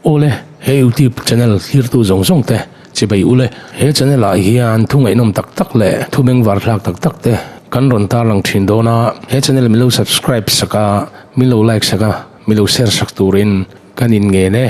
Ule, he YouTube channel hlirtu zawng zawng te chibei ule. He channel ah hian thu ngaihnawm tak tak leh thu beng var thlak tak tak te kan rawn tarlang thin dawn a, he channel milo subscribe sak a, milo like sak a, milo share sak turin. Kan in ngen e.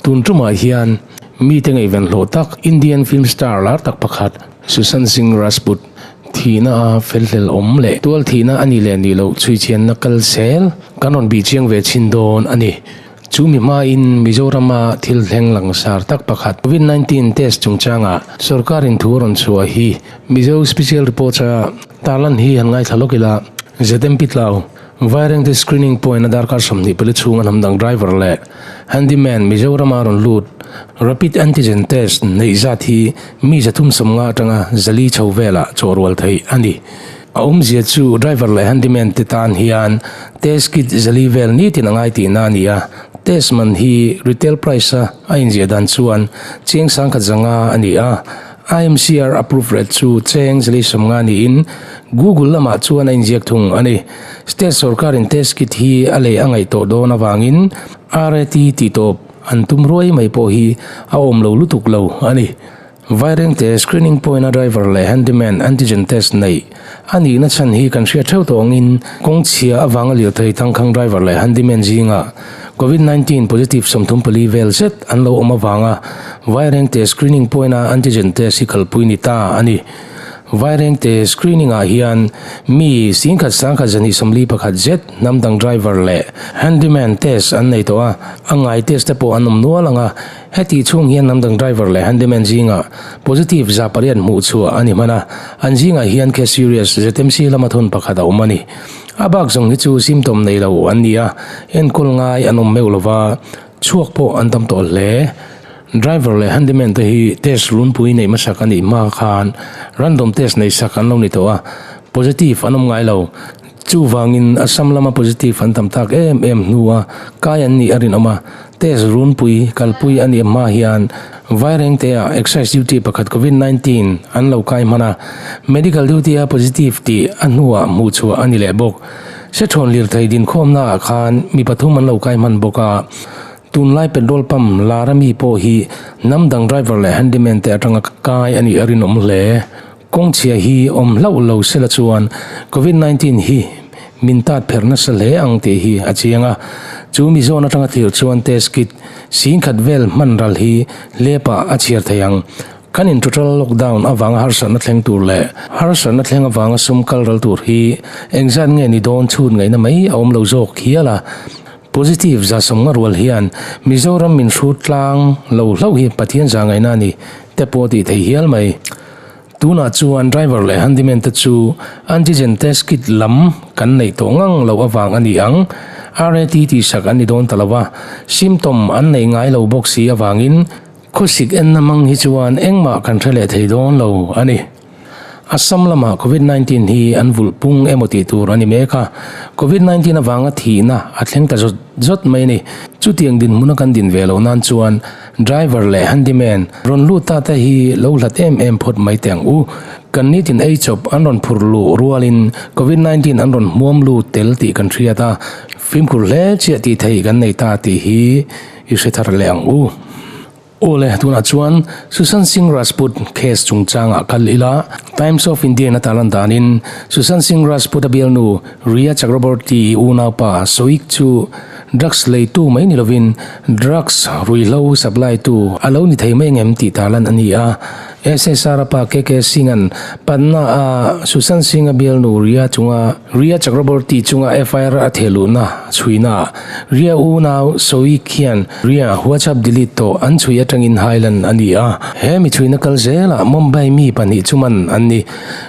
Tun tumah hian mite ngaihvenhlawh tak Indian film star lar tak pakhat Sushant Singh Rajput thihna a felhlel awm leh tual thihna a ni leh nih loh chhuichhianna kalsel kan rawn bih chiang ve chin dawn a ni. Chu mi hmain Mizorama thil thleng langsar tak pakhat Covid nineteen test chungchangah sawrkarin thu a rawn chhuah hi Mizo Special Reports-a tarlan hi han ngaithla lawk ila, Zmt tlau. Vairengte screening point a darkar sawmhnih pali chhung a hnam dang driver leh handyman Mizorama rawn lut Rapid Antigen Test neih zat hi mi zathum sawmnga atanga Zali chho velah chawhrual theih a ni. A awmzia chu driver leh handyman te tan hian test kit Zali vel nitin a ngai tihna a ni a, test man hi retail price a a inziah dan chuan chiang sangkhat zanga a ni a, IMCR approved rate chu Cheng Zleisawmnga niin Google lamah chuan a inziak thung a ni. State sorkarin test kit hi a leh a ngaihtuah dawn avangin RAT tih tawp an tum ruai mai pawh hi a awm lo lutuk lo a ni. Vairengte screening point-a driver leh handyman antigen test neih A nihna chhan hi kan hria theuh tawh angin, kawngchhia avanga lirthei tangkhang driver leh handyman zinga Covid nineteen positive sawmthum pali vel zet an lo awm avanga Vairengte screening point-a antigen test hi kalpui ni ta a ni. Vairengte screening-ah hian mi singkhat sangkhat zahnih sawmli pakhat zet hnam dang driver leh handyman test an nei tawh a, a ngai test-te pawh an awm nual ang a. Heti chhung hian lam dang driver leh handyman zingah positive za pariat hmuh chhuah a ni hman a, an zingah hian case serious ZMC lama thun pakhat a awm a ni. A bak zawng hi chu symptom nei lo an ni a, enkawl ngai an awm meuh lo va, chhuak pawh an tam tawh hle. Driver leh handyman te hi test lunpui neih hmasak a nih hma khan random test neih sak an lo ni tawh a, positive an awm ngai lo. Chuvangin a sam lama positive an tam tak em em hnua kai an nih a rinawm a, test runpui, kalpui a nih hma hian Vairengtea excise duty pakhat Covid nineteen an lo kai hman a, medical duty a positive tih a hnua hmuh chhuah a ni leh bawk. Hrethawn lirthei dinkhawmnaah khan mi pathum an lo kai hman bawk a, tunlai petrol pump Lara mi pawh hi hnam dang driver leh handyman te atanga kai a nih a rinawm hle. Kawngchhia hi awm hlauh lo sela chuan Covid nineteen hi min tat pher nasa hle ang tih hi a chiang a. Chu mi zawn atanga tirh chuan test kit sing khat vel hman ral hi lepah a chhiar thei ang. Kan in total lockdown avanga harsatna thleng tur leh harsatna thleng avanga sum kal ral tur hi engzat nge ni dawn chhut ngaihna mai a awm lo zawk hial a. Positive za sawmnga rual hian Mizoram min hrut tlang lo hlauh hi Pathian za ngaihna a ni te pawh a tih thei hial mai. Tunah chuan driver leh handyman te chu antigen test kit lam kan neih tawh ngang loh avang a ni ang. RAT tih hrak an ni dawn ta lo a, symptom an neih ngai lo bawk si avangin khawsik enna hmang hi chuan engmah kan hre leh thei dawn lo a ni. Assam lamah Covid nineteen hi an vulh pung emaw tih tur a ni mek a, Covid nineteen avanga thihna a thleng ta zawt zawt mai a ni. Chutiang dinhmuna kan din ve lo nan chuan, Driver leh handyman, rawn lut ta te hi lo hlat em em phawt mai teh ang u. Kan nitin ei chawp an rawn phur luh rualin Covid nineteen an rawn hmuam lut tel tih kan hriat a, fimkhur hle chiah tih theih kan nei ta tih hi i hre thar leh ang u. Awle, tunah chuan Sushant Singh Rajput case chungchangah kal ila Times of India-in a ta lan danin Sushant Singh Rajput-a bialnu Rhea Chakraborty-i unaupa Soik chu Drugs leitu mai ni lovin drugs ruihhlo supply tu a lo ni thei mai ang em tih tarlan a ni a. SSR-a pa KK Singha'n Patna a Sushant Singha bialnu Ria chunga Ria Chakraborty chunga FIR a thehluhna chhuinaah Ria unau Soik hian Ria WhatsApp delete tawh an chhui atangin hailan a ni a. He michhuina kal zelah Mumbai mi pahnih chu man an ni.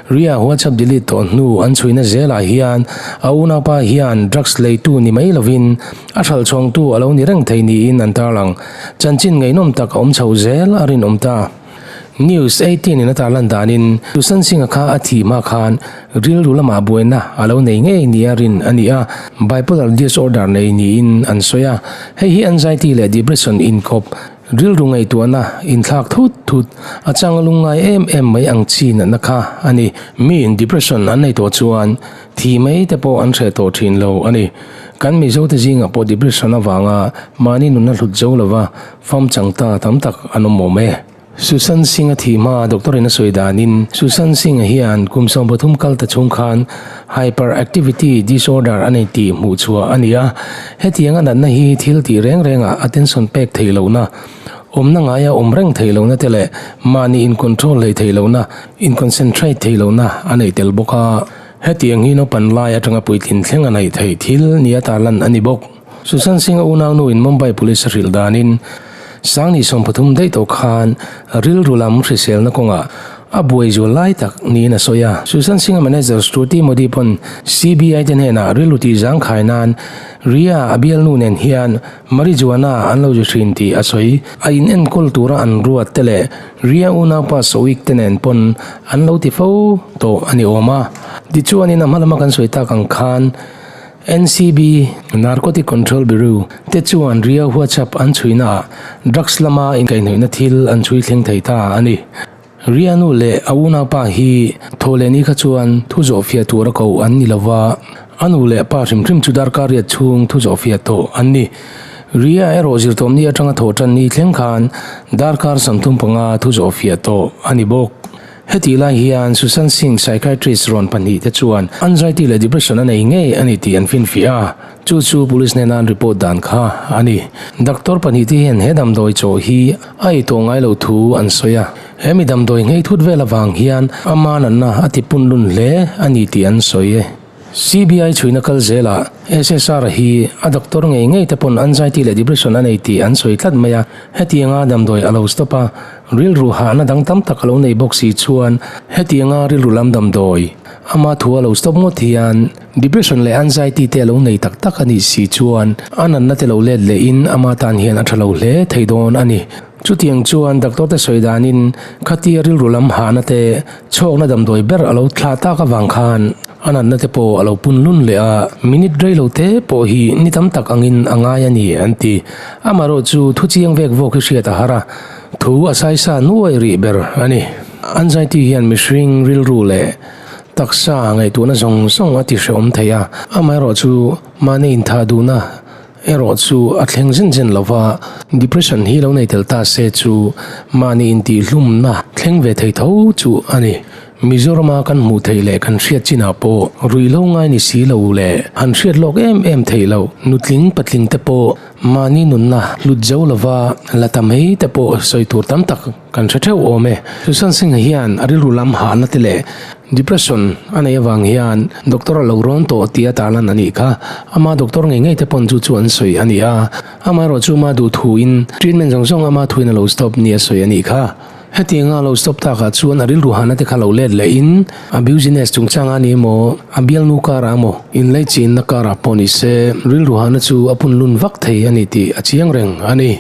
Ria WhatsApp delete thawh hnu an chhuina zelah hian a unaupa hian drugs leitu ni mai lovin a hral chhawngtu a lo ni reng thei niin an tarlang. Chanchin ngaihnawm tak a awm chho zel a rinawm ta. News eighteen-in a tarlan danin Susan Singh-a kha a thih hma khan rilru lama buaina a lo nei ngei nia rin a ni a, bipolar disorder nei niin an sawi a. Hei hi anxiety leh depression inkhawp Rilru ngaihtuahna inthlak thut thut, a chang lung ngai em em mai ang chi natna kha a ni. Miin depression an nei tawh chuan thi mai te pawh an hreh tawh thin lo a ni. Kan Mizote zingah pawh depression avanga mahni nunna hlut zo lova fam chang ta tam tak an awm awm e. Susan Singh-a thi hma doctor-in a sawi danin, Susan Singh-a hian kum sawmpathum kal ta chhung khan, Hyperactivity disorder a nei tih hmuh chhuah a ni a, hetiang a natna hi thil tih reng rengah attention pek theih lohna, awmna ngaia awm reng theih lohna te leh mahni incontrol hlei theih lohna, inconcentrate theih lohna a nei tel bawk a. Hetiang hi naupan lai atanga puitlin thleng a neih theih thil nia tarlan a ni bawk. Susan Singh a unauno in Mumbai Police hrilh danin Sangni sawm pathum daih tawh khan rilru lam hriselna kawngah a buai zual lai tak niin a sawi a. Susan Singh a manager Shruti Modi pawn CBI te hnenah rilru tih zang khai nan Riya a bialnu nen hian Marijuana an lo ri hrin tih a sawi. A in enkawl tura an ruat te leh Riya unaupa Soik te nen pawn an lo ti fo tawh a ni awm a. Tichuanin a hma lama kan sawi tak ang khan, NCB, Narcotic Control Bureau, te chuan riau huatchap an chhuina ah drugs lama inkaihnawihna thil an chhui thleng thei ta a ni. Rianu leh a unaupa hi thaw leh ni kha chuan thu zawhfiah tur a ko an ni lo va, a nu leh pa hrim hrim chu darkariat chhung thu zawhfiah tawh an ni. Ria erawh zirtawm ni atanga thaw tan ni thleng khan darkar sam thum panga thu zawhfiah tawh a ni bawk. Hetih lai hian Susan Singh psychiatrist rawn pahnih te chuan anxiety leh depression a nei ngei a ni tih an finfiah a, chu chu police nen a an report dan kha a ni. Doctor pahnih te hian he damdawi chawh hi a ei tawh ngai lo thu an sawi a, he mi damdawi ngheithut vel avang hian a manatna a tipunlun hle a ni tih an sawi. CBI chhuina kal zelah SSR hi a doctor ngei ngei te pawn anxiety leh depression a nei tih an sawi tlat mai a, hetianga damdawi a lo stop a, rilru hahna dang tam tak a lo nei bawk si chuan hetianga rilru lam damdawi ama thu a lo stop ngawt hian depression leh anxiety te a lo nei tak tak a nih si chuan a natna te lo let lehin ama tan hian a tha lo hle thei dawn a ni. Chutiang chuan doctor te sawi danin khatia rilru lam hahna te chhawkna damdawi ber a lo thlah tak avang khan a natna te pawh a lo punlun leh a, minute rei lo te pawh hi ni tam tak angin a ngai a ni, an ti. Amaherawhchu chu thuchiang vek vawk hi hriat a har a, thu a saisa nuai rih ber a ni. Anxiety hian mihring rilru leh taksa ngaihtuahna zawng zawng a tihrehawm thei a, amaherawhchu mahni intha duhna Erawh chu a thleng zin zin lo va, depression hi lo nei tel ta se chu mahni intihhlumna thleng ve thei tho chu a ni. Mizorama kan hmuh theih leh kan hriat chinah pawh ruih lo ngai ni si lo leh han hriat lawk em em thei lo. Nutling patling te pawh mahni nunna hlut zo lova la ta mai te pawh sawi tur tam tak. Kan hre theuh awm e. Susan Singh hian a rilru lam hahna te leh depression a nei avang hian doctor a lo rawn tawh tia tarlan a nih kha. Ama doctor ngei ngei te pawn chu chu an sawi a ni a. Amaherawh chu ama duh thuin treatment zawng zawng ama thuin a lo stop nia sawi a nih kha. Heti anga a lo stop takah chuan a rilru hahna te kha lo let leh in a business chungchanga ni maw, a bialnu kara emaw, inleichhinna karah pawh ni se rilru hahna chu a punlun vak thei a ni tih a chiang reng a ni.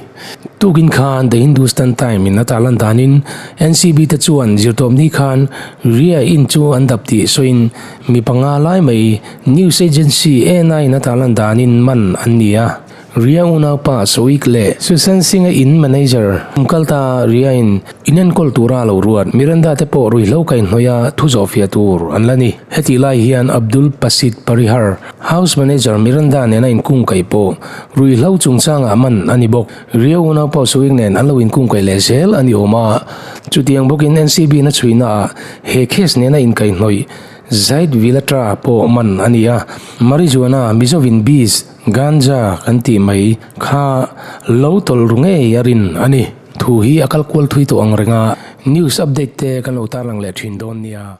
Tukin khan The Hindustan Time in a tah lan danin NCB te chuan zirtawpni khan Riya in chu an dap tih sawiin mi panga lai mai news agency ena in a tah lan danin man an ni a. Riya unaupa Soik leh Susan Singha in manager kal ta Riya in in enkawl tura lo ruat Miranda te pawh ruihhlo kaihhnawih a thu zawhfiah tur an la ni. Heti lai hian Abdul Pasit Parihar, House Manager Miranda nena inkungkaih pawh ruihhlo chungchangah man a ni bawk. Riau Unaupao Suing nen an lo inkungkaih leh zel a ni awm a, chutiang bawkin NCB-na chhuinaah he case nena inkaihhnawih zait vil atra pawh man a ni a. Marijuana, Mizovin Biz, Ganja kan tih mai, kha lo tawlru ngei a rin a ni. Thu hi a kal kual thui tawh ang renga news update te kan lo tarlang leh thin dawn nia.